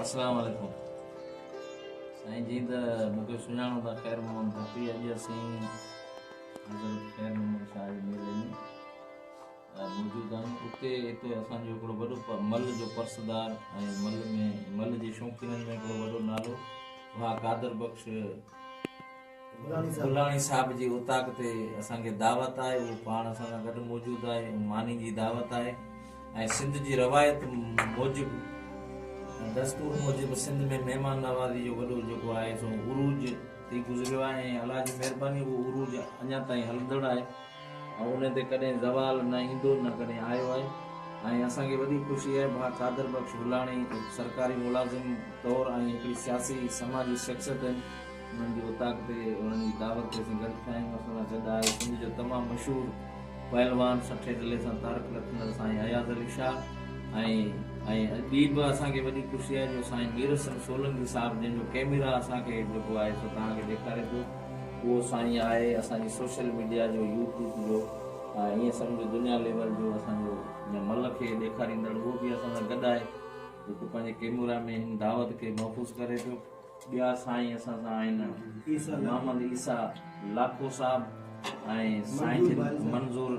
السلام عليڪم سائين جي ته مونکي سڃاڻو ٿا خير محمد بخشي اڄ اسين حضرت خير محمد شاهه جي ميلي ۾ موجود آهيون اتي اتي اسان جو هڪڙو وڏو مل جو پرسدار ۽ مل ۾ مل جي شوقينن ۾ هڪڙو وڏو نالو ها قادر بخش گولاڻي صاحب جي اوطاق تي اسان کي دعوت آهي اهو پاڻ اسان سان گڏ موجود آهي ماني جي دعوت آهي ۽ سنڌ جي روايت موجب دستور موجب سنڌ ۾ مهمان نوازي جو وڏو جيڪو آهي سو عروج ٿي گذريو آهي ۽ الله جي مهرباني اهو عروج اڃا تائين هلندڙ آهي ۽ ان تي ڪڏهن زوال نه ايندو نه ڪڏهن آيو آهي ۽ اسان کي وڏي خوشي آهي ڀا قادر بخش گولاڻي سرڪاري ملازم طور ۽ هڪڙي سياسي سماجي شخصيت انهن جي اوطاق تي انهن جي دعوت تي اسين گڏ ٿيا آهيون. اسان سان گڏ آهي سنڌ جو تمام مشهور پهلوان سٺي دلي سان تارڪ لکندڙ سائين اياز علي شاهه ۽ ۽ ٻي به اسان کي وڏي خوشي آهي جو سائين مير حسن سولنگي صاحب جنهن جو ڪيميرا اسان کي جيڪو آهي سو توهان کي ڏيکاري پيو اهو سائين آهي اسان جي سوشل ميڊيا جو يوٽيوب جو ۽ ائين سمجهو دنيا ليول جو اسان جو جنهن ملڪ کي ڏيکاريندڙ اهو به اسان سان گڏ آهي جيڪو پنهنجي ڪيمورا ۾ هن دعوت کي محفوظ ڪري پيو. ٻيا سائين اسان سان آهن محمد عيسيٰ لاکو صاحب ۽ سائين منظور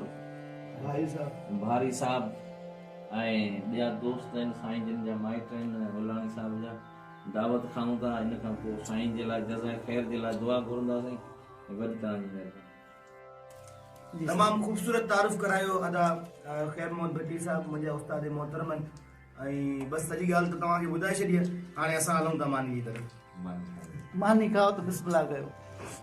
بهاري صاحب ۽ ٻيا دوست آهن سائين جن جا مائٽ آهن هولاڻي صاحب جا دعوت کائون ٿا ان کان پوء سائين جي لاء جزائي خير جي لاء دعا گهرنداسين گڏ توهان جي مهرباني تمام خوبصورت تعارف ڪرايو ادا خير محمد ڀٽي صاحب منهنجا استاد محترم ۽ بس سڄي ڳالهه ته توهان کي ٻڌائي ڇڏي آهي هاڻي اسان هلون ٿا ماني جي طرف. ماني کائو ته بسم الله ڪيو.